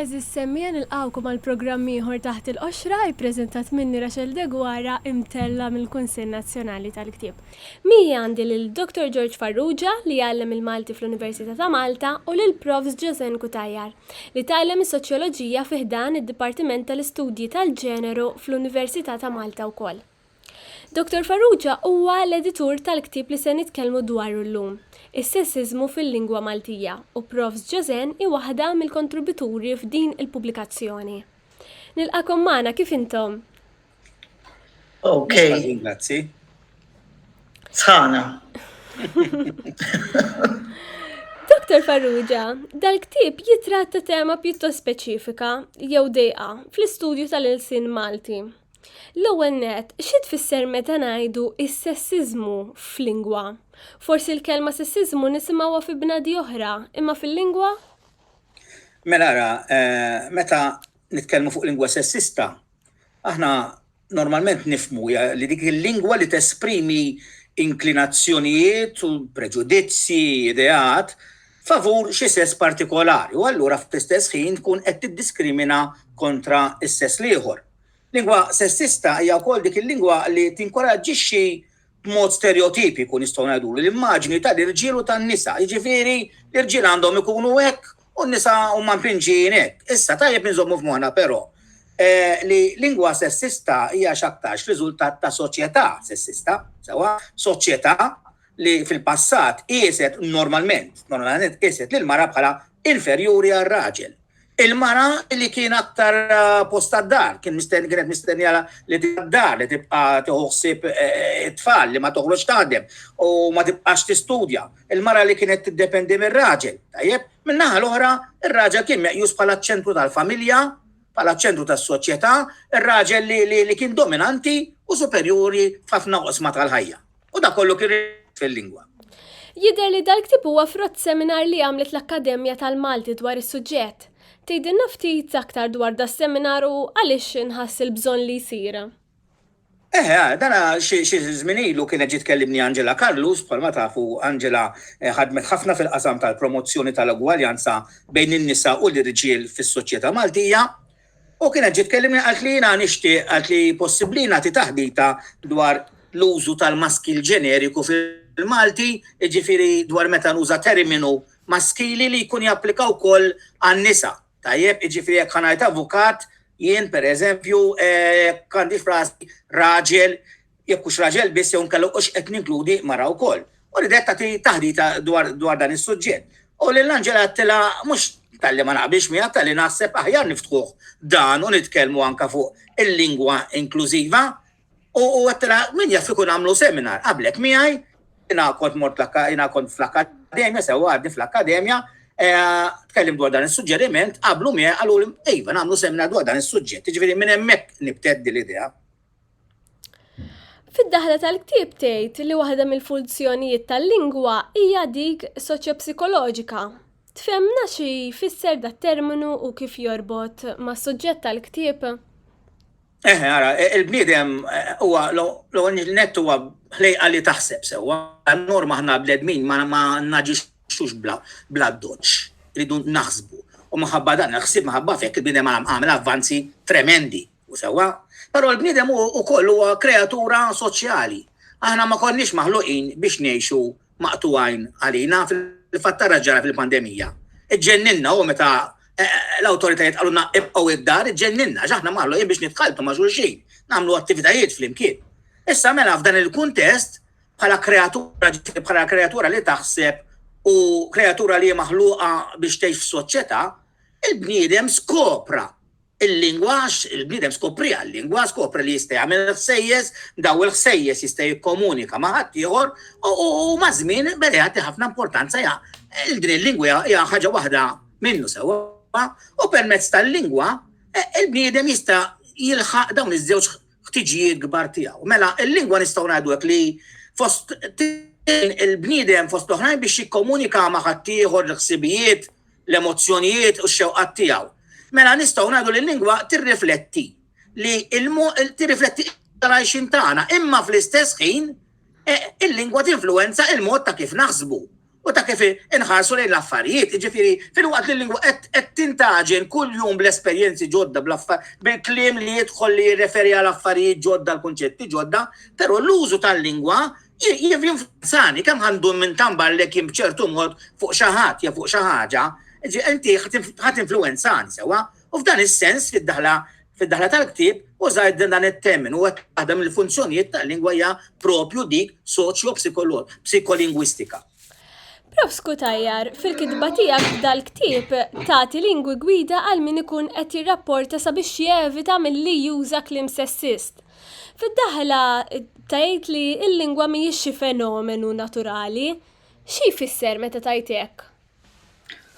Għeżież semmiegħa nilqgħukom għal programm ieħor Taħt il-Qoxra, ippreżentat minni Rachel Deguara, imtellgħa mill-Kunsill Nazzjonali tal-Ktieb. Miegħi għandi lil Dottor George Farrugia li jgħallem il-Malti fl-Università ta' Malta u lil Profs. Josène Cutajar li tgħallem is-Soċjoloġija fi ħdan id-Dipartiment tal-Istudji tal-Ġeneru fl-Università ta' Malta wkoll. Dottor Farrugia huwa l-editur tal-ktieb li se nitkellmu dwaru llum, Is-Sessiżmu fil-Lingwa Maltija u Profs Joseann hi waħda mill-kontributuri f'din il-pubblikazzjoni. Nilqagħkom magħna, kif intom? Mhux ħażin, grazzi. Sħana. Dottor Farrugia, dal-ktieb jitratta tema pjuttost speċifika jew dejqa fl-istudju tal-ilsien Malti. L-ewwel nett, xi tfisser meta ngħidu s-sessiżmu f'lingwa? Forsi l-kelma sessiżmu nisimgħuha fi bnadi oħra, imma fil-lingwa? Mela ara, meta nitkellmu fuq lingwa sessista, aħna normalment nifhmu li dik il-lingwa li tesprimi inklinazzjonijiet u preġudizzji, ideat, favur xi sess partikolari u allura fl-istess ħin tkun qed tiddiskrimina kontra s-sess l-ieħor. Lingwa sessista hija wkoll dik il-lingwa li tinkoraġġixxi b'mod stereotipiku nistgħu ngħidulu l-immaġni tal-irġiel u tan-nisa, jiġifieri l-irġiel għandhom ikunu hekk u n-nisa huma mpinġijin hekk. Issa tajjeb inżommu f'moħħna però li lingwa sessista hija x'aktarx riżultat ta' soċjetà sessista, sewwa, soċjetà li fil-passat qieset normalment, normalment qieset lill-mara bħala inferjuri għar-raġel. Il-mara li kien aktar post tad-dar, kien mistenni kienet mistennija li tibqa' d-dar, li tibqa' tieħu ħsieb it-tfal, li ma toħroġx taħdem u ma tibqax tistudja. Il-mara li kienet tiddependi mir-raġel, tajjeb? Min-naħa l-oħra, ir-raġel kien meqjus bħala ċ-ċentru tal-familja, bħala ċ-ċentru tas-soċjetà, ir-raġel li kien dominanti u superjuri f'ħafna oqsma tal-ħajja. U dak kollu kien rispett fil-lingwa. Jidher li dal-ktieb huwa frott seminar li għamlet l-Akkademja tal-Malti dwar is-suġġett. Tgħidilna ftit aktar dwar das-seminar u għaliex inħass il-bżonn li jsir? Eħe, dan xi żmien ilu kienet ġiet tkellimni Angela Carlus, bħalma tafu Angela ħadmet ħafna fil-qasam tal-promozzjoni tal-ugwaljanza bejn in-nisa u l-irġiel fis-soċjetà Maltija. U kienet ġiet tkellimni qalt li jiena nixtieq qalt li possibbli nagħti taħdita dwar l-użu tal-maskil ġeneriku fil-Malti, jiġifieri dwar meta nuża terminu maskili li jkun japplika wkoll għan-nisa. Tajjeb, jiġifieri jekk ħa ngħid avukat, jien, pereżempju, jekk għandix f'rasi raġel, jekk hux raġel biss jew inkella hux qed ninkludi mara wkoll, u ridet tagħti taħdita dwar dan is-suġġett. U lil Angela għedtilha mhux talli ma naqbilx miegħek talli naħseb aħjar niftħuh dan u nitkellmu anke fuq il-lingwa inklużiva u għedtilha min jaf ikun għamlu seminar qablek miegħi jiena kont mort jiena kont fl-akkademja sewwa għadni fl-akkademja eh, tkellim dwar dan is-suġġeriment qablu miegħi qalu iva nagħmlu seminar dwar dan is-suġġett, jiġifieri minn hemmhekk nibteddi l-idea. Fid-daħla tal-ktieb tgħid li waħda mill-funzjonijiet tal-lingwa hija dik soċjopsikoloġika. Tfehmna xi jfisser dat terminu u kif jorbot mas-suġġett tal-ktieb? Eħe, ara, e, il-bniedem e, huwa l-ewwel net huwa ħlejqa li taħseb sewwa. Norma ħna bledmin ma ma naġixxux bla bla doċ, ridu naħsbu. U maħabba dan il-ħsieb maħabba fek il-bniedem għamel avvanzi tremendi U sewwa. Però l-bniedem hu wkoll huwa kreatura soċjali. Aħna ma konniex maħluqin biex ngħixu maqtugħin għalina, fil-fatt ara x'ġara fil-pandemija. Iġġenninna hu meta l-awtoritajiet qalulna ibqgħu id-dar, iġġenninna għax aħna maħluqin biex nitħalltu ma' xulxin, nagħmlu attivitajiet flimkien. Issa mela f'dan il-kuntest bħala kreatura ġifieri bħala kreatura li taħseb u kreatura li hi maħluqa biex tgħix f'soċjetà, il-bniedem skopra Il-lingwa għax il-bniedem skopriha, l-lingwa skopre li jista' jagħmel il-ħsejjes, daw il-ħsejjes jista' jikkomunika ma' ħaddieħor u maż-żmien beda jagħti ħafna importanza ja il din il-lingwa hija ħaġa waħda minnu sewwa u permezz tal-lingwa e, il-bniedem jista' jilħaq dawn iż-żewġ ħtiġijiet kbar tiegħu. Mela, il-lingwa nistgħu ngħidu hekk li fost il-bniedem fost l-oħrajn biex jikkomunika ma' ħaddieħor l-ħsibijiet, l-emozzjonijiet u x-xewqat tiegħu. Mela nistgħu ngħidu li l-lingwa tirrifletti li tirrifletti l-għajxin tagħna, imma fl-istess ħin e, il-lingwa tinfluwenza il-mod ta' kif naħsbu u ta' kif inħarsu lejn l-affarijiet. Ġifiri, fil-waqt li l-lingwa qed tintaġen kull jum bl-esperjenzi ġodda bil-kliem li jidħol li jirreferi għal affarijiet ġodda l-kunċetti ġodda, però l-użu tal-lingwa Jinfluenzani kemm għandu minn tambar lek jien b'ċertu mod fuq xi ħadd jew fuq xi ħaġa, inti ħadd influenzani sewwa. U f'dan is-sens fid-daħla fid-daħla tal-ktieb użajt din dan it-termin u waħda mill-funzjonijiet tal-lingwa hija propju dik soċjo-psikolingwistika. Prof. Cutajar, fil-kitba tiegħek f'dal-ktieb tagħti lingwi gwida għal min ikun qed jirrapporta sabiex jevita milli juża kliem sessist. Fid-daħla tgħid li l-lingwa mhijiex xi fenomenu naturali. Xi jfisser meta tgħid hekk?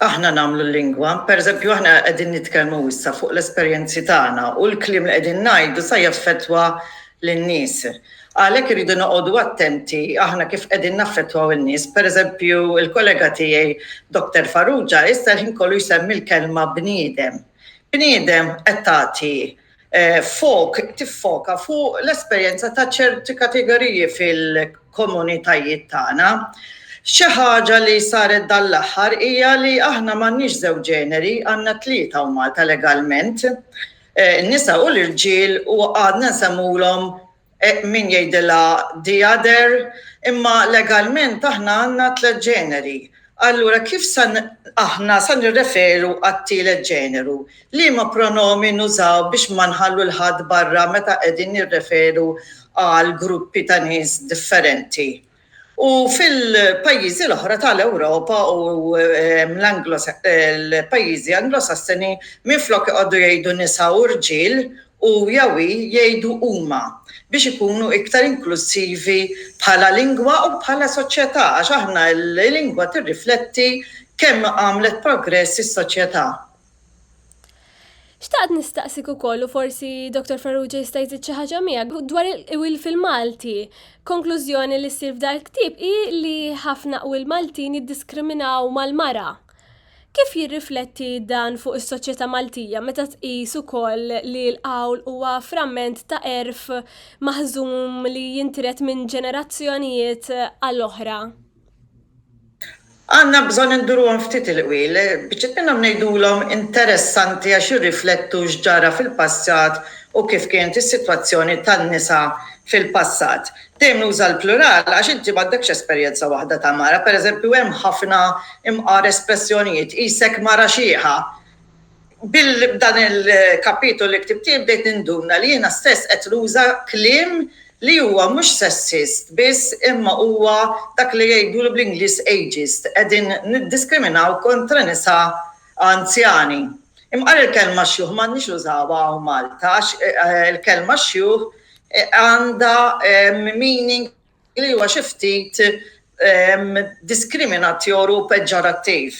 aħna nagħmlu l-lingwa. Pereżempju, aħna qegħdin nitkellmu issa fuq l-esperjenzi tagħna u l-kliem li qegħdin ngħidu sa jaffettwa lin-nies. Għalhekk irridu noqogħdu attenti aħna kif qegħdin naffettwaw in-nies. Pereżempju, il-kollega tiegħi Doktor Farrugia issa l-ħin kollu jsemmi l-kelma bniedem. Bniedem qed tagħti Fok, tiffoka fuq l-esperjenza ta' ċerti kategoriji fil-komunitajiet tagħna. Xi ħaġa li saret dan l-aħħar hija li aħna m'għandniex żewġ ġeneri, għandna tlieta u Malta legalment, in-nisa u l-irġiel u għadna nsemmulhom Min jgħidilha the other? Imma legalment aħna għandna tliet ġeneri. Allura kif sa aħna sa nirreferu għat-tielet ġeneru? Liema pronomi nużaw biex ma nħallu 'l ħadd barra meta qegħdin nirreferu għal gruppi ta' nies differenti? U fil-pajjiżi l-oħra ta' l-Ewropa u l-pajjiżi Anglosassoni minflok iqogħdu jgħidu nisa u rġiel, hu jew hi jgħidu huma biex ikunu iktar inklussivi bħala lingwa u bħala soċjetà għax aħna l-lingwa tirrifletti kemm għamlet progress is-soċjetà. Xtaqt nistaqsik ukoll u forsi Dr. Farrugia jista' jżid xi ħaġa miegħek dwar il-qwil fil-Malti. Konklużjoni li ssir f'dal ktieb hi li ħafna qwil Maltin jiddiskriminaw mal-mara. Kif jirrifletti dan fuq is-soċjetà Maltija meta tqis ukoll li l-qawl huwa framment ta' għerf maħżum li jintred minn ġenerazzjonijiet għal oħra? Għandna bżonn induruhom ftit il-qwiel. Biċċiet minnhom ngħidulhom interessanti għax jirriflettu x'ġara fil-passat u kif kienet is-sitwazzjoni tan-nisa fil-passat. Dejjem nuża l-plural għax inti m'għandekx esperjenza waħda ta' mara. Pereżempju hemm ħafna imqar espressjonijiet, qisek mara xiħa, B'dan il-kapitolu li ktibt jien bdejt ninduna li jiena stess qed nuża kliem li huwa mhux sessist biss imma huwa dak li jgħidulu bl-Ingliż ageist, qegħdin niddiskriminaw kontra nisa anzjani. Imqar il-kelma xjuħ m'għandniex nużawha hawn Malta għax il-kelma xjuħ għandha meaning, li huwa xi ftit diskriminatur u peġġorattiv.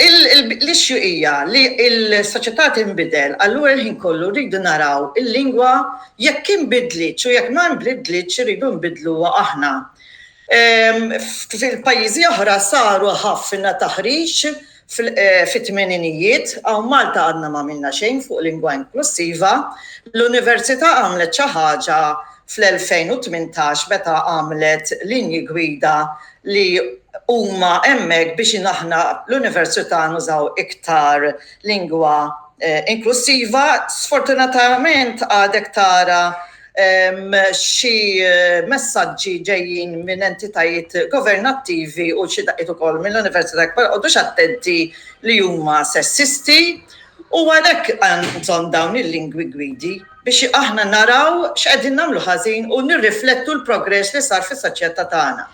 L-issue hija li l-soċjetà tinbidel, allura l-ħin kollu rridu naraw il-lingwa jekk inbidlitx u jekk ma nbidlitx irridu nbiddluha aħna. F'pajjiżi oħra saru ħafna taħriġ Fit-tmeninijiet, hawn Malta għadna m'għamilna xejn fuq lingwa inklussiva. L-Università għamlet xi ħaġa fl-2018 meta għamlet linji gwida li huma hemmhekk biex aħna l-Università nużaw iktar lingwa inklussiva. Sfortunatament għadek tara xi messaġġi ġejjin minn entitajiet governattivi u xi daqqiet ukoll mill-Università Kbar qogħdux attenti li huma sessisti u għalhekk għandhom dawn il-lingwi gwidi biex aħna naraw x'qegħdin nagħmlu ħażin u nirriflettu l-progress li sar fis-soċjetà tagħna.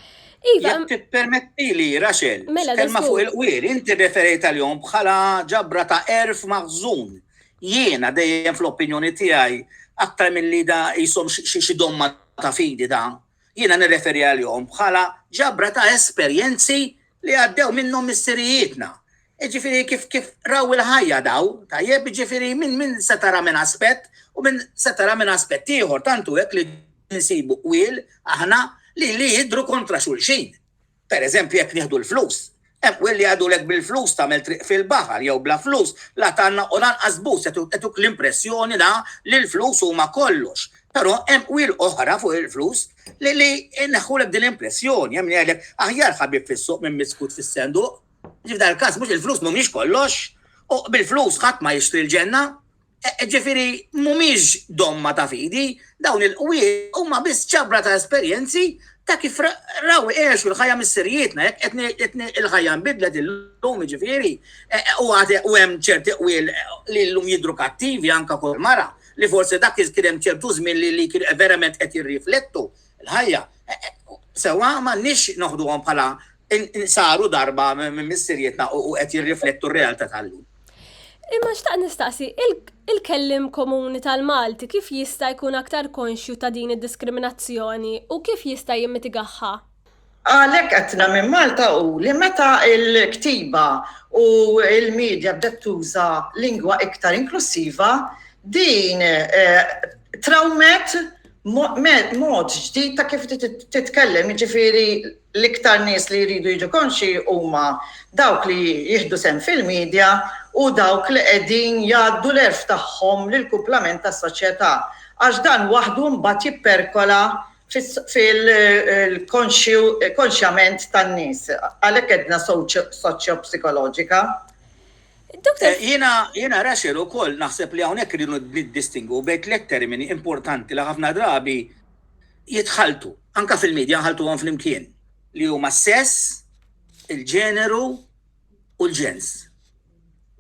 Iva. Permetti li, Raxel, mela, kelma fuq il-qwir, inti referejt għal-jom bħala ġabra ta' erf maħżun Jiena dejjem fl-opinjoni tiegħi, aktar milli da qishom xi xi domma ta' fidi da, jiena nirreferi għalihom bħala ġabra ta' esperjenzi li għaddew minnhom missirijietna. Jiġifieri kif kif raw il-ħajja daw, tajjeb, jiġifieri minn minn se tara minn aspett u minn se tara minn aspett ieħor, tant hu hekk li nsibu qwiel aħna li li jidhru kontra xulxin. Pereżempju, jekk nieħdu l-flus, hemm qwiel li jgħidulek bil-flus tagħmel triq fil-baħar jew bla flus la tgħannaq u lanqas bus qed jagħtuk l-impressjoni la li l-flus huma kollox. Però hemm qwiel oħra fuq il-flus li li jneħħulek din l-impressjoni, hemm min jgħidlek aħjar ħabib fis-suq minn miskut fis-senduq. F'dan il-każ mhux il-flus mhumiex kollox, u bil-flus ħadd ma jixtri l-ġenna. Ġifieri mhumiex domma ta' fidi, dawn il-qwiet huma biss ġabra ta' esperjenzi ta' kif raw igħexu l-ħajja missirijietna, jekk qed il-ħajja nbidlet illum jiġifieri, u għad hemm ċerti qwiel li llum jidhru kattivi anke fuq mara, li forsi dak iż kien hemm ċertu żmien li li kienu verament qed jirriflettu l-ħajja. Sewwa m'għandniex noħduhom bħala saru darba minn missirijietna u qed jirriflettu r-realtà tal-lum. Imma xtaq nistaqsi, il-kellim komuni tal-Malti kif jista' jkun aktar konxju ta' din id-diskriminazzjoni u kif jista' jimmitigahha? Għalhekk għedtna minn Malta hu li meta l-ktiba u l-media bdet tuża lingwa iktar inklussiva, din trawmet mod ġdid ta' kif titkellem, jiġifieri L-iktar nies li jridu jiġu konxji huma dawk li jieħdu sehem fil-midja u dawk li qegħdin jgħaddu l-għerf tagħhom lill-kumplament tas-soċjetà, għax dan waħdu mbagħad jipperkola fil-konxju, konxjament tan-nies. Għalhekk għedna soċjopsikoloġika. Dottor. Jiena, jiena Rachel ukoll naħseb li hawnhekk irridu niddistingwu bejn tliet termini importanti li ħafna drabi jitħalltu, anke fil-media nħalltuhom flimkien, li huma s-sess, il-ġeneru u l-ġens.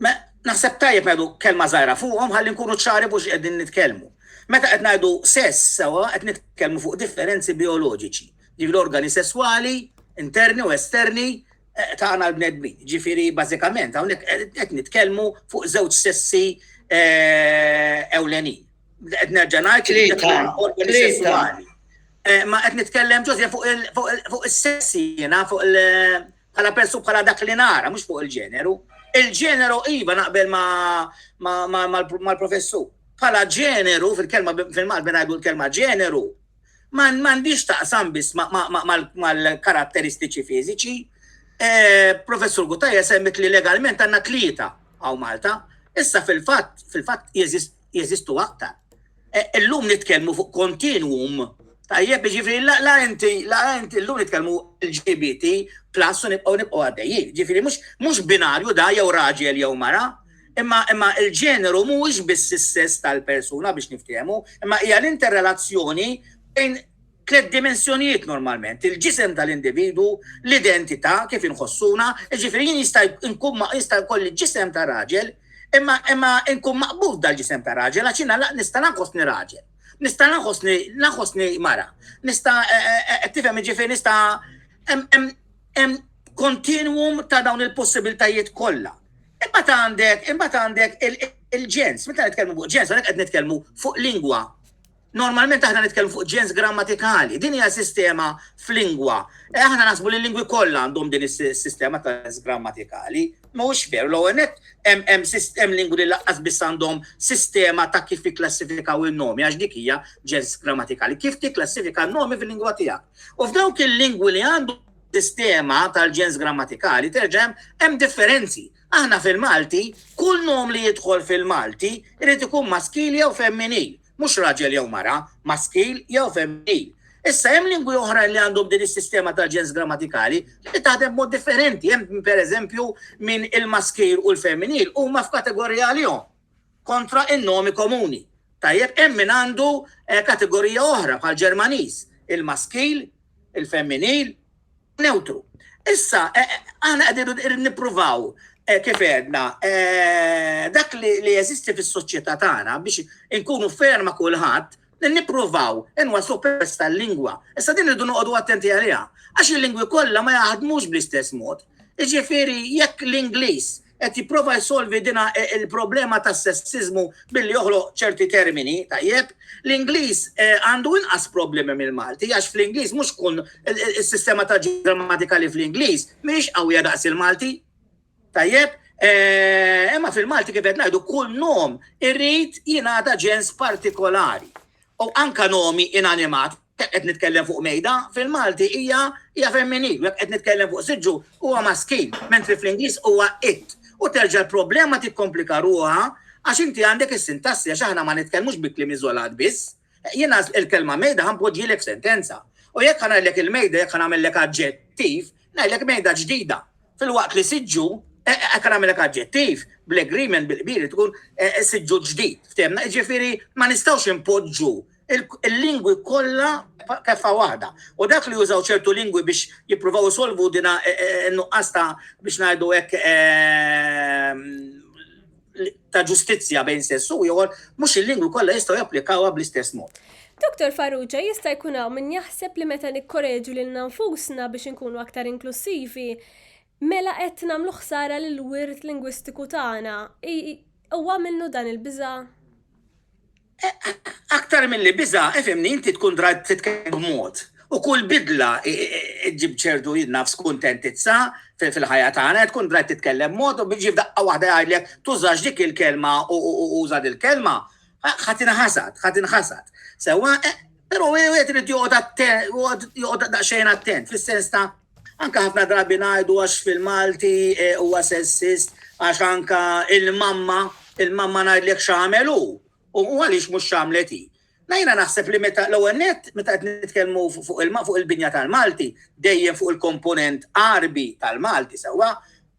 Ma naħseb tajjeb ngħidu kelma żgħira fuqhom ħalli nkunu ċari fuq x'qegħdin nitkellmu. Meta qed ngħidu sess sewwa qed nitkellmu fuq differenzi bioloġiċi, ġifieri l-organi sesswali interni u esterni eh, tagħna l-bnedmin. Ġifieri bażikament hawnhekk qed nitkellmu fuq żewġ sessi eh, ewlenin. Qed nerġa' ngħid li organi sessuali. Eh, ma qed nitkellem ġożja fuq is-sessi jiena fuq il bħala persu bħala dak li nara, mhux fuq il-ġeneru. Il-ġeneru iva naqbel mal-professur. Bħala ġeneru fil-kelma fil-Malti ngħidu l-kelma ġeneru man mandiġ taqsam bis mal-karatteristiċi fiziċi. Eh, professor Gutajja semmit li legalment għanna tlieta għaw Malta. Issa fil-fat, fil-fat jeżist jeżistu aktar. E, illum nitkellmu fuq kontinuum Tajjeb, ġifiri, la inti, la inti, l-lum nitkellmu LGBT plus u nibqaw nibqaw għaddejjien. Ġifiri, mux binarju da jew raġel jew mara, imma imma il-ġeneru mhuwiex biss is-sess tal-persuna biex niftehmu, imma hija l-interrelazzjoni bejn tliet dimensjonijiet normalment, il-ġisem tal-individwu, l-identità, kif inħossuna, jiġifieri jien jista' nkun jista' jkolli ġisem ta' raġel, imma imma nkun maqbud f'dal-ġisem ta' raġel għax jiena nista' nħossni raġel, nista' nħossni nħossni mara, nista' qed tifhem jiġifieri nista' hemm hemm kontinwum ta' dawn il-possibiltajiet kollha. Imbagħad għandek imbagħad għandek il-ġens, meta nitkellmu fuq ġens hawnhekk qed nitkellmu fuq lingwa. Normalment aħna nitkellmu fuq ġens grammatikali. Din hija sistema f'lingwa. E aħna naħsbu li l-lingwi kollha għandhom din is-sistema ta' ġens grammatikali. Mhuwiex veru, l-ewwel nett hemm hemm sist- hemm lingwi li laqqas biss għandhom sistema ta' kif jikklassifikaw in-nomi għax dik hija ġens grammatikali. Kif tikklassifika n-nomi fil-lingwa tiegħek. U f'dawk il-lingwi li għandhom sistema tal-ġens grammatikali terġa' hemm hemm differenzi. Aħna fil-Malti, kull nom li jidħol fil-Malti irid ikun maskili jew femminil. mhux raġel jew mara, maskil jew femminil. Issa hemm lingwi oħrajn li għandhom din is-sistema tal-ġens grammatikali li taħdem b'mod differenti. Hemm pereżempju min il-maskil u l-femminil huma f'kategorija għalihom kontra in-nomi komuni. Tajjeb hemm min għandu eh, kategorija oħra bħal Ġermaniż, il-maskil il-femminil, newtru. Issa, aħna qegħdin nippruvaw, kif għedna, dak li jeżisti fis-soċjetà tagħna biex inkunu fair ma' kulħadd, nippruvaw inwassluh permezz tal-lingwa. Issa din irridu noqogħdu attenti għaliha għax il-lingwi kollha ma jaħdmux bl-istess mod. Jiġifieri jekk l-Ingliż qed jipprova jsolvi din il-problema tas-sessiżmu billi joħloq ċerti termini, tajjeb, l-Ingliż għandu inqas problemi mill-Malti għax fl-Ingliż mhux kun is-sistema ta' grammatika li fl-Ingliż mhix qawwija daqs il-Malti. Tajjeb, imma fil-Malti kif qed ngħidu kull nom irrid jingħata ġens partikolari. U anke nomi inanimat, jekk qed nitkellem fuq mejda, fil-Malti hija hija femminil, u jekk qed nitkellem fuq siġġu huwa maskil, mentri fl-Ingliż huwa it. U terġa' l-problema tikkomplika ruħha għax inti għandek is-sintassi għax aħna ma nitkellmux bi kliem iżolat biss. Jiena il-kelma mejda ħa npoġġielek f'sentenza. U jekk ħa ngħidlek il-mejda, jekk ħa nagħmellek aġġettiv, Ngħidlek mejda ġdida, filwaqt li siġġu, hekk nagħmilek aġġettiv, bl-agreement bil-kbir tkun siġġu ġdid, ftehimna, jiġifieri ma nistgħux inpoġġu il-lingwi kollha keffa waħda. U dak li jużaw ċertu lingwi biex jippruvaw isolvu dina nuqqas ta' biex ngħidu hekk ta' ġustizzja bejn sess u ieħor, mhux il-lingwi kollha jistgħu japplikawha bl-istess mod. Doktor Farrugia, jista' jkun hawn min jaħseb li meta nikkoreġu lilna nfusna biex inkunu aktar inklussivi, mela qed nagħmlu ħsara lill-wirt lingwistiku tagħna. Huwa minnu dan il-biża'? Aktar milli biża', ifhimni, inti tkun drajt titkellem b'mod. U kull bidla ġġib ċertu naf skuntentizza fil-ħajja tagħna, tkun drajt titkellem b'mod u jiġi f'daqqa waħda jgħidlek tużax dik il-kelma u uża dil-kelma, ħa tinħasad, ħa tinħasad. Sewwa, però wieħed irid joqgħod attent, joqgħod daqsxejn attent fis-sens ta' Anke ħafna drabi ngħidu għax fil-Malti huwa sessist għax anke l-mamma, il-mamma ngħidlek x'għamel hu u għaliex mhux x'għamlet hi. La jiena naħseb li meta l-ewwel nett meta qed nitkellmu fuq il-binja tal-Malti dejjem fuq il-komponent Għarbi tal-Malti sewwa,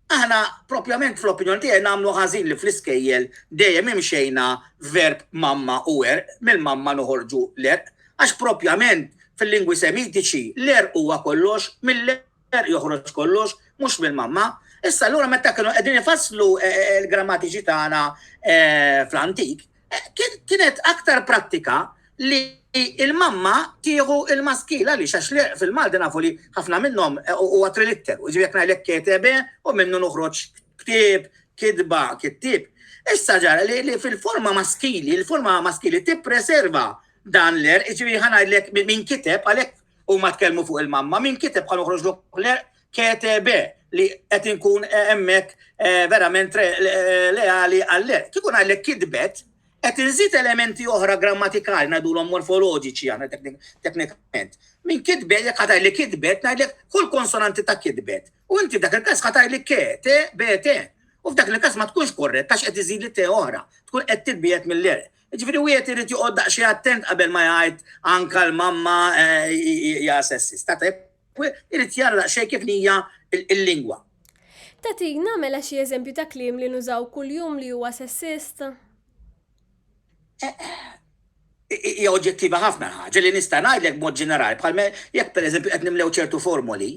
Aħna, proprjament fl-opinjoni tiegħi, nagħmlu ħażin li fl-iskejjel dejjem imxejna verb mamma u għerq, mill-mamma noħorġu l-għerq, għax proprjament fil-lingwi Semitiċi l-għerq huwa kollox, mill-għerq joħroġ kollox, mhux mill-mamma. Issa allura meta kienu qegħdin ifasslu l-grammatiċi tagħna fl-antik, Kienet aktar prattika li l-mamma tieħu l-maskil għaliex għax l-għerq fil-Malti nafu li ħafna minnhom huwa trilitteru, jiġifieri jekk ngħidlek ketebe u minnu noħroġ ktieb, kitba, kittieb. Issa ġara li fil-forma maskili, il-forma maskili tippreserva dan l-għerq, jiġifieri ħa ngħidlek min kiteb għalhekk huma tkellmu fuq il-mamma, min kiteb ħa noħroġlu l-għerq KTB li qed inkun hemmhekk eh, verament eh, leali għallek. Kieku ngħidlek kidbet, qed inżid elementi oħra grammatikali ngħidulhom morfoloġiċi għana teknikament. Min kidbet jekk ħataj li kidbet ngħidlek kull konsonanti ta' kidbet. U inti dak il-każ ħataj li ke, te, be, te. U f'dak il-każ ma tkunx korret, għax qed iżid li te oħra, tkun qed titbiet mill-erq. Ġifiri u jiet irrit juqod daqxie attent qabel ma jgħid anka l-mamma eh, hija sessista. Irid jara daqsxejn kif hija l-lingwa. Tagħtina mela xi eżempju ta' kliem li nużaw kuljum li huwa sessist? Hija oġġettiva ħafna l-ħaġa li nista' ngħidlek b'mod ġenerali bħal jekk pereżempju qed nimlew ċertu formoli,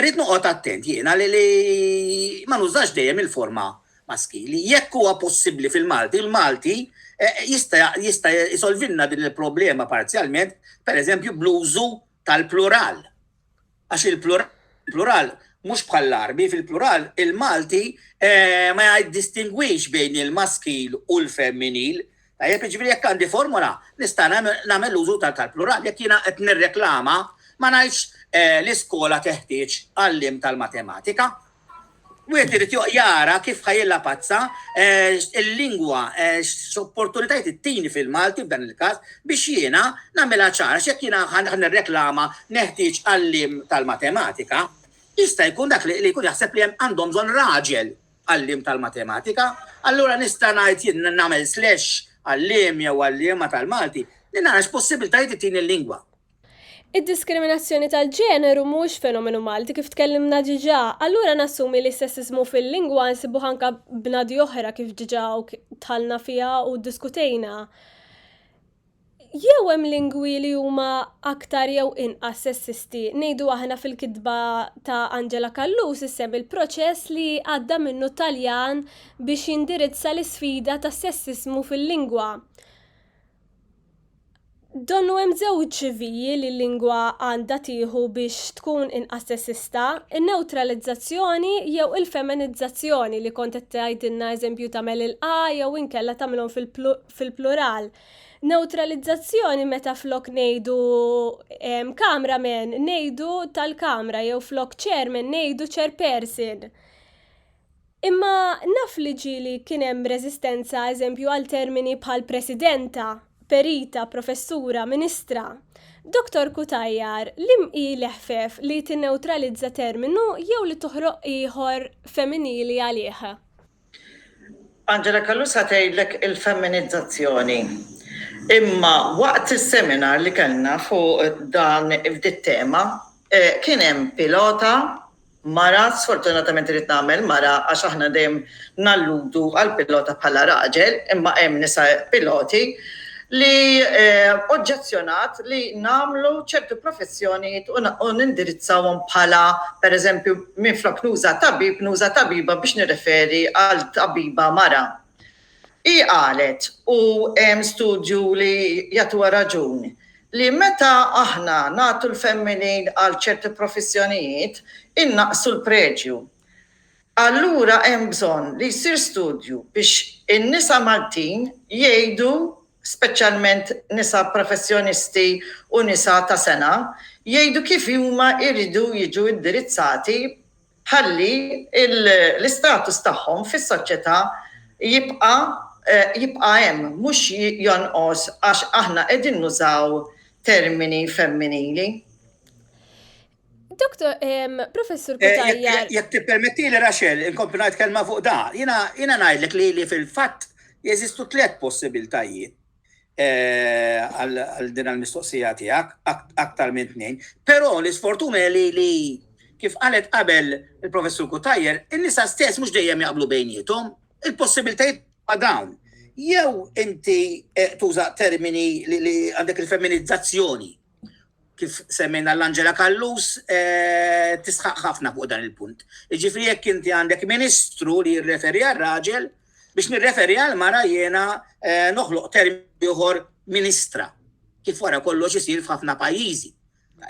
rrid noqgħod attent jiena li ma nużax dejjem il-forma maskili. Jekk huwa possibbli fil-Malti, il-Malti jista' jista' jsolvilna din il-problema parzjalment pereżempju bl-użu tal-plural, għax il-plural mhux bħall-Għarbi, fil-plural il-Malti eh, ma jiddistingwix bejn il-maskil u l-femminil. Tajjeb, jiġifieri jekk għandi formola, nista' nagħmel użu tal-plural, jekk jiena qed nirreklama ma ngħidx eh, l-iskola teħtieġ għallim tal-matematika, Wieħed irid joq jara kif ħa jillapazza l-lingwa, x'opportunitajiet ittini fil-Malti f'dan il-każ, biex jiena nagħmilha ċara. Għax jekk jiena ħa nirreklama neħtieġ għalliem tal-matematika, jista' jkun dak li jkun jaħseb li hemm għandhom bżonn raġel għalliem tal-matematika. Allura nista' ngħid jien nagħmel slash għalliem jew għalliema tal-Malti li nara x'possibbiltajiet ittini l-lingwa. Id-diskriminazzjoni tal-ġeneru mhuwiex fenomenu Malti kif tkellimna diġà, allura nassumi li s-sessiżmu fil-lingwa nsibuh anke bnadi oħra kif diġà dħalna fiha u ddiskutejna. Jew hemm lingwi li huma aktar jew inqas sessisti. Ngħidu aħna fil-kitba ta' Angela Callus issemmi l-proċess li għadda minnu t-Taljan biex jindirizza l-isfida tas-sessiżmu fil-lingwa. Donnu hemm żewġ viji li l-lingwa għandha tieħu biex tkun inqas sessista, in-newtralizzazzjoni jew il-feminizzazzjoni li kont qed tgħidilna eżempju tagħmel il-A jew inkella tagħmilhom fil-plural. Newtralizzazzjoni meta flok ngħidu camera man ngħidu tal-kamra jew flok chairman ngħidu chairperson. Imma naf li ġieli kien hemm reżistenza, eżempju, għal termini bħal Presidenta, Perita, Professura, Ministra. Dottor Cutajar, liem hi l-eħfef li tinnewtralizza terminu jew li toħroq ieħor femminili għalih? Angela Calusa, Tgħidlek il-femminizzazzjoni. Imma waqt is-seminar li kellna fuq dan f'dit-tema kien hemm pilota mara, sfortunatament irrid nagħmel mara għax aħna dejjem nalludu għall-pilota bħala raġel, imma hemm nisa piloti, li oġġezzjonat li nagħmlu ċertu professjonijiet u nindirizzawhom bħala, pereżempju, minflok nuża tabib, nuża tabiba biex nirreferi għal tabiba mara. Hi qalet, u hemm studju li jagħtuha raġun, li meta aħna nagħtu l-femminil għal ċerti profissjonijiet, innaqqsu l-preġju. Allura hemm bżonn li jsir studju biex in-nisa Maltin jgħidu, speċjalment nisa professjonisti u nisa ta' sengħa, jgħidu kif huma jridu jiġu indirizzati ħalli l-istatus tagħhom fis-soċjetà jibqa' jibqa' hemm, mhux jonqos għax aħna qegħdin nużaw termini femminili. Doktor, Professur eh, Kutajjar. Jekk tippermettili Raxel, inkompli ngħid kelma fuq da. Jiena ngħidlek li fil-fatt jeżistu tliet possibiltajiet. għal din il-mistoqsija tiegħek, aktar minn tnejn. Però l-isfortuna hi li li kif qalet qabel il-Professur Cutajar, in-nisa stess mhux dejjem jaqblu bejniethom, il-possibilitajiet ma' dawn. Jew inti eh, tuża termini li għandek il-femminizzazzjoni kif semmejna l-Angela Kallus, eh, tisħaq ħafna fuq dan il-punt. Ġifri jekk inti għandek ministru li jirreferi għal raġel, biex nirreferi għal mara jena eh, noħloq termi uħor ministra, kif wara kollox isir f'ħafna pajjiżi.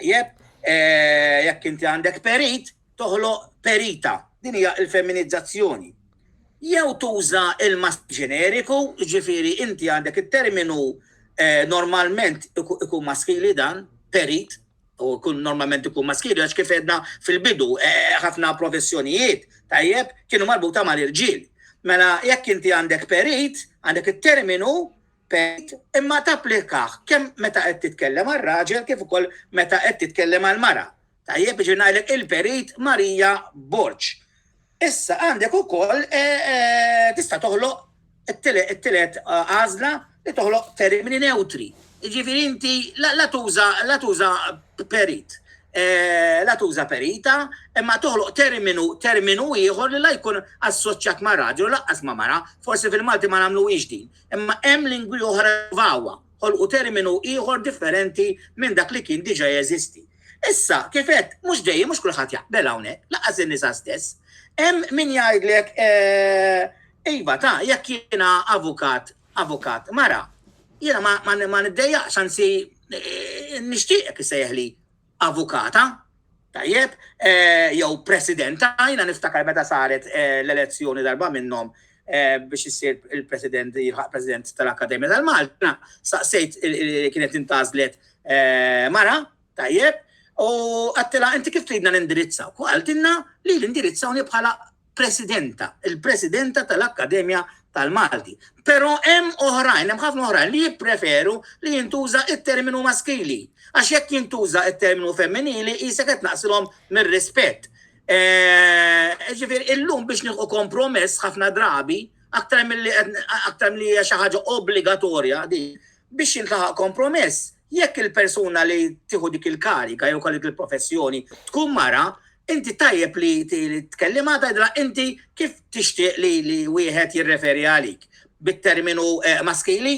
Jeb, eh, jekk inti għandek perit, toħloq perita, din hija l-femminizzazzjoni, jew tuża l-mask ġeneriku, jiġifieri inti għandek it-terminu normalment ikun maskili dan, perit, u kun normalment ikun maskili, għax kif edna fil-bidu, ħafna professjonijiet, tajjeb, kienu marbuta mal-irġiel. Mela, jekk inti għandek perit, għandek it-terminu perit, imma tapplikaħ kemm meta qed titkellem għar-raġel kif ukoll meta qed titkellem għall-mara. Tajjeb, jiġifieri ngħidlek il-Perit Marija Borg. Issa għandek ukoll tista' toħloq it-tielet għażla li toħloq termini newtri. Jiġifieri inti la tuża la tuża perit, la tuża perita, imma toħloq terminu terminu ieħor li la jkun assoċjat ma' raġel u laqqas ma' mara, forsi fil-Malti ma nagħmluhiex din, imma hemm lingwi oħra jprovawha, ħolqu terminu ieħor differenti minn dak li kien diġà jeżisti. Issa, kif għedt, mhux dejjem mhux kulħadd jaqbel hawnhekk, laqas in-nisa stess. Hemm min jgħidlek eh, iva ta' jekk jiena avukat, avukat mara, jiena ma niddejjaqx anzi eh, nixtieqek isejħli avukata, tajjeb, eh, jew presidenta, jiena niftakar meta saret l-elezzjoni darba minnhom biex isir il-President, jilħaq President tal-Akkademja tal-Malta, saqsejt kienet intażlet mara, tajjeb, u għattila inti kif tridna nindirizzaw? U għaltinna li l-indirizzawni bħala presidenta, il-presidenta tal-Akkademja tal-Malti. Pero hemm oħrajn, hemm ħafna oħrajn li jippreferu li jintuża it-terminu maskili. Għax jekk jintuża it-terminu femminili jisek qed naqsilhom mir-rispett. Eh, ġifir, illum biex nieħu kompromess ħafna drabi, aktar mill-li aktar mill-li hija xi ħaġa obbligatorja di biex jintlaħaq kompromess. Jekk il-persuna li tieħu dik il-karika jew kollek il-professjoni tkun mara, inti tajjeb li tkellimha tgħidla inti kif tixtieq li li wieħed jirreferi għalik bit-terminu eh, maskili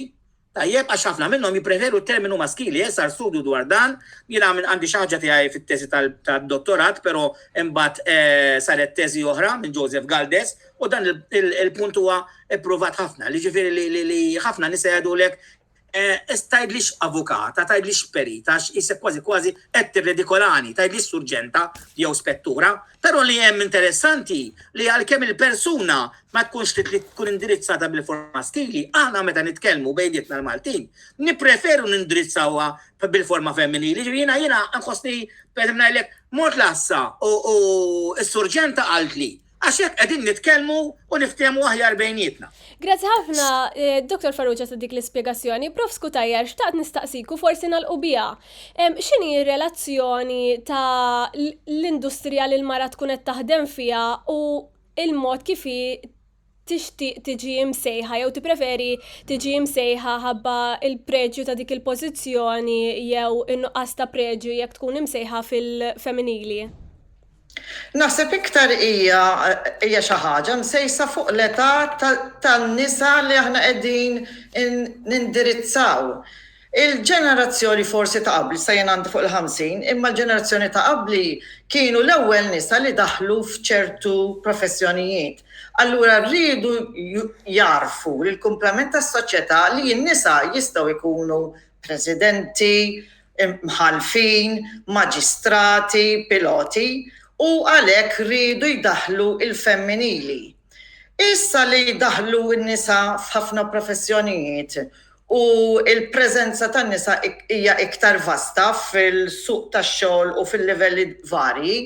Tajjeb għax ħafna minnhom jippreferu t-terminu maskili, eh, sar studju dwar dan, jiena minn għandi xi ħaġa tiegħi fit-teżi tad-dottorat, però imbagħad eh, saret teżi oħra minn Joseph Galdes u dan il-punt huwa ippruvat ħafna, li ġifieri li ħafna nisa jgħidulek eh, is tajdlix avukata, tajdlix perita, isek kważi kważi qed tirredikolani, tajdlix surġenta jew spettura, Però li hemm interessanti li għalkemm il-persuna ma tkunx trid li tkun indirizzata bil-forma maskili, aħna meta nitkellmu bejnietna l-Maltin, nippreferu nindirizzawha bil-forma femminili. Jiġifieri jiena jiena nħossni pereżempju ngħidlek mort l-għassa u s-surġenta qaltli Għax hekk qegħdin nitkellmu u niftehmu aħjar bejnietna. Grazzi ħafna, eh, Dr. Farrugia ta' dik l-ispjegazzjoni. Prof skutajjar, xtaqt nistaqsiku forsi nal-qubija. X'inhi r-relazzjoni ta' l-industrija li l-mara tkun qed taħdem fiha u l-mod kif hi tixtieq tiġi msejħa jew tippreferi tiġi msejħa ħabba l-preġju ta' dik il-pożizzjoni jew in-nuqqas ta' preġju jekk tkun imsejħa fil-femminili? Naħseb iktar hija hija xi ħaġa msejsa fuq l-età tan-nisa li aħna qegħdin nindirizzaw. Il-ġenerazzjoni forsi ta' qabli, sa jien għandi fuq il-ħamsin, imma l-ġenerazzjoni ta' qabli kienu l-ewwel nisa li daħlu f'ċertu professjonijiet. Allura riedu jagħrfu l-kumplament tas-soċjetà li n-nisa jistgħu jkunu Presidenti, Mħallfin, Maġistrati, Piloti u għalhekk riedu jdaħħlu l-femminili. Issa li daħlu n-nisa f'ħafna professjonijiet u l-preżenza tan-nisa hija iktar vasta fil-suq tax-xogħol u fil-livelli varji,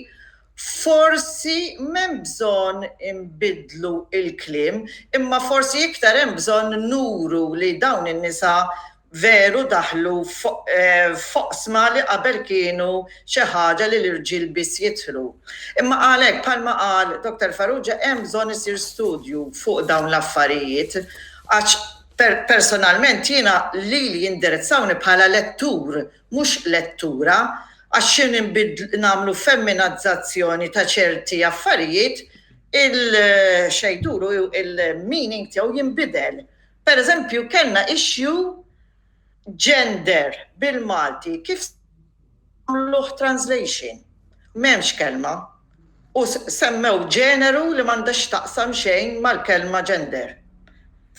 Forsi m'hemm bżonn inbiddlu l-kliem, imma forsi iktar hemm bżonn nuru li dawn in-nisa veru daħlu f'oqsma li qabel kienu xi ħaġa li l-irġiel biss jidħlu. Imma għalhekk, bħalma qal Dr. Farrugia, hemm bżonn isir studju fuq dawn l-affarijiet għax personalment jiena lili jindirizzawni bħala lettur mhux lettura, għax xi nbidlu, nagħmlu femminazzazzjoni ta' ċerti affarijiet, il-xejduru, il-meaning tiegħu jinbidel. Per eżempju, kellna issue gender bil-Malti, kif għamluh translation? M'hemmx kelma. u semmew ġeneru li m'għandha x'taqsam xejn mal-kelma gender.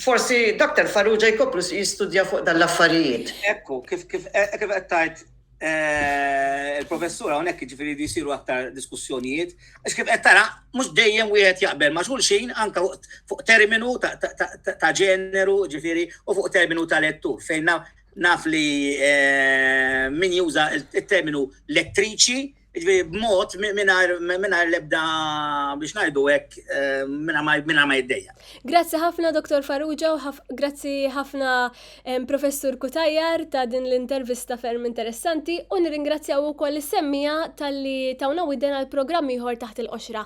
Forsi Doctor Farrugia jkomplu jistudja fuq dan l-affarijiet. Hekk hu, kif kif hekk kif qed tgħid il-Professur hawnhekk jiġifieri jridu jsiru aktar diskussjonijiet, għax kif qed tara mhux dejjem wieħed jaqbel ma' xulxin anke fuq terminu ta' ġeneru jiġifieri u fuq terminu ta' lettur fejn naf li min juża t-terminu lettriċi Jiġifieri b'mod mingħajr mingħajr l-ebda biex ngħidu hekk mingħajr ma jiddejjaq. Grazzi ħafna Dr. Farrugia u grazzi ħafna Professur Kutajjar ta' din l-intervista ferm interessanti u nirringrazzjaw ukoll is-semmija talli tawna widen għal programm ieħor taħt il-qoxra.